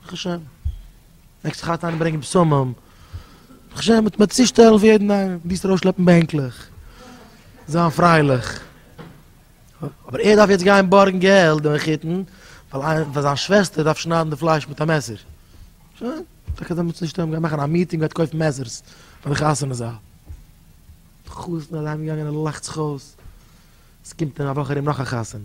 ברוך השם. מעגסט זיך היינט אריינברענגען בשמים. ברוך השם, מ'טוט מיר צושטעלן פון יעדן איינעם. מ'מוז ארויסשלעפן בענקלעך. זיין פרייליך. אבער ער דארף יעצט גיין בארגן געלט דעם מחותן, ווייל זיין שוועסטער דארף שניידן די פלייש מיט א מעסער. שוין. טאקע אזוי מ'טוט נישט. מ'גייט מאכן א מיטינג, מ'גייט קויפן מעסערס פאר די חתונה זאל. די חתן איז אהיימגעגאנגען און ער לאכט זיך אויס. עס קומט אין א וואך ארום נאך א חתונה.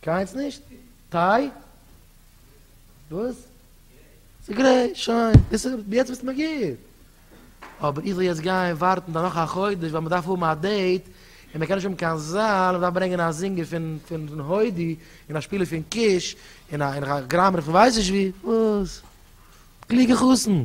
קיינס נישט? טיי? וואס? ס'גרעי, שוין, דאס איז יעצט ביסטו מגיב. אבער איך זאל יעצט גיין ווארטן דער נאך א חודש ווייל מ'דארף האבן א דעיט, און מ'קען נישט האבן קיין זאל, מ'דארף ברענגען א זינגער פון פון הודי, און א שפילער פון קיש, און א און א גראמער פון ווייס נישט ווי, וואס? קלוגע חתן!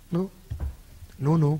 נו. נו נו.